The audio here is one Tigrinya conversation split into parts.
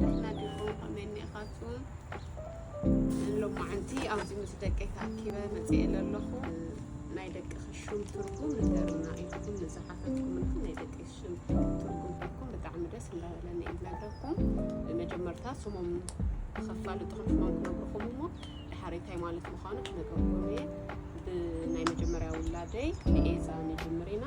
ደህና ዲኹም ከመይ እኒኢኻትኩም ሎማዓንቲ ኣብዚ ምስ ደቀይ ተኣኪበ መፅኤ ለለኹ ናይ ደቅኺ ሹም ትርጉም ንገሩና ኢልኩም ንዝሓተትኩምና ናይ ደቀይ ሹም ትርጉም ኢልኩም ብጣዕሚ ደስ እንዳበለኒ እዩ ዝነግረኩም ብመጀመርታ ስሞም ንኸፋልጥኹም ሽሞም ክነግርኹም እሞ ድሓሬታይ ማለት ምዃኑ ክነግረኩም እየ ብናይ መጀመርያ ውላደይ ንኤዛ ንጅምር ኢና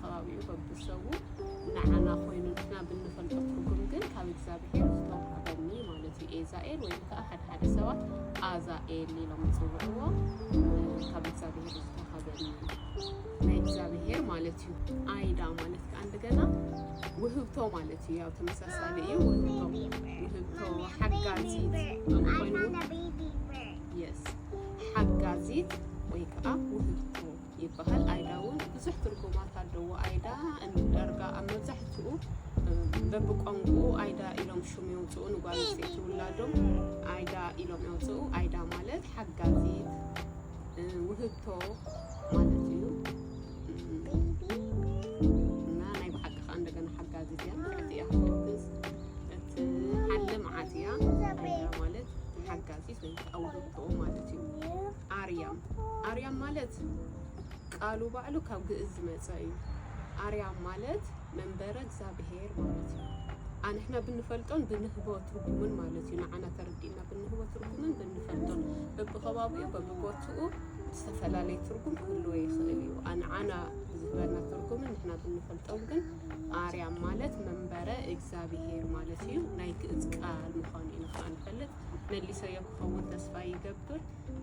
ከባቢኡ በብሰቡ ንዓና ኮይኑ ንሕና ብንፈልጦ ትርጉም ግን ካብ እግዚኣብሔር ዝተውሃበኒ ማለት እዩ ኤዛኤል ወይም ከዓ ሓደ ሓደ ሰባት ኣዛኤል ኢሎም ይፅውዕዎ ካብ እግዚኣብሔር ዝተውሃበኒ ናይ እግዚኣብሔር ማለት እዩ ኣይዳ ማለት ከዓ እንደገና ውህብቶ ማለት እዩ ያው ተመሳሳሊ እዩ ውህብቶ ውህብቶ ሓጋዚት ኮይኑ የስ ሓጋዚት ወይ ከዓ ውህብቶ ይበሃል። ኣይዳ እውን ብዙሕ ትርጉማት ኣለዎ። ኣይዳ ዳርጋ ኣብ መብዛሕትኡ በብቋንቁኡ ኣይዳ ኢሎም ሹም የውፅኡ ንጓል ኣንስተይቲ ውላዶም ኣይዳ ኢሎም የውፅኡ። ኣይዳ ማለት ሓጋዚት ውህብቶ ማለት እዩ እና ናይ ብሓቂ ከዓ እንደገና ሓጋዚት እያ ማለት እያ ክትሕግዝ እቲ ሓለ መዓት እያ። ኣይዳ ማለት ሓጋዚት ወይ ከዓ ውህብቶ ማለት እዩ። ኣርያም ኣርያም ማለት ቃሉ ባዕሉ ካብ ግእዝ ዝመጸ እዩ። ኣርያም ማለት መንበረ እግዛብሄር ማለት እዩ። ኣንሕና ብንፈልጦን ብንህቦ ትርጉምን ማለት እዩ። ንዓና ተረዲእና ብንህቦ ትርጉምን ብንፈልጦን በብኸባቢኡ በብቦትኡ ዝተፈላለየ ትርጉም ክህልዎ ይኽእል እዩ። ኣንዓና ብዝህበና ትርጉምን ንሕና ብንፈልጦን ግን ኣርያም ማለት መንበረ እግዚኣብሄር ማለት እዩ። ናይ ግእዝ ቃል ምዃኑ ኢና ከዓ ንፈልጥ። መሊሰዮ ክኸውን ተስፋ ይገብር።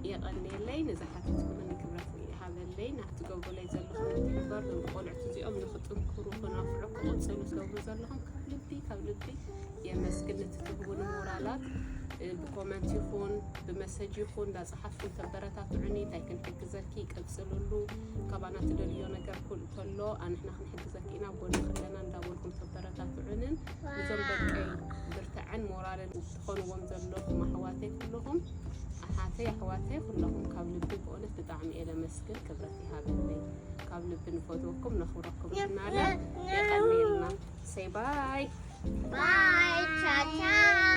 የቐንየለይ ነዛ ሓፊትኩምኒ ክብረት ይሃበለይ ናብ ትገብሩለይ ዘለኹም ምትሕብባር ዞም ቆልዑት እዚኦም ንክጥንክሩ ክነፍዑ ክቕፅሉ ትገብሩ ዘለኹም ካብ ልቢ ካብ ልቢ የመስግን እቲ ትህቡኒ ሞራላት ብኮመንት ይኹን ብመሰጅ ይኹን እንዳፀሓፍኩም ተበረታትዑኒ እንታይ ክንሕግዘኪ ቀፅልሉ ካባና ትደልዮ ነገር ከሎ ኣንሕና ክንሕግዘኪ ኢና ጎንኺ ኣለና እንዳበልኩም ተበረታትዑንን እዞም ደቀይ ብርትዐን ሞራልን ትኾንዎም ዘለኹም ኣሕዋተይ ኩለኹም ኣሓተይ ኣሕዋተይ ኩለኹም ካብ ልቢ ብእውነት ብጣዕሚ እየ ለመስግን ክብረት ይሃበለይ ካብ ልቢ ንፈትወኩም ነኽብረኩም እናለ የቀንየልና ሰይ ባይ ባይ ቻቻ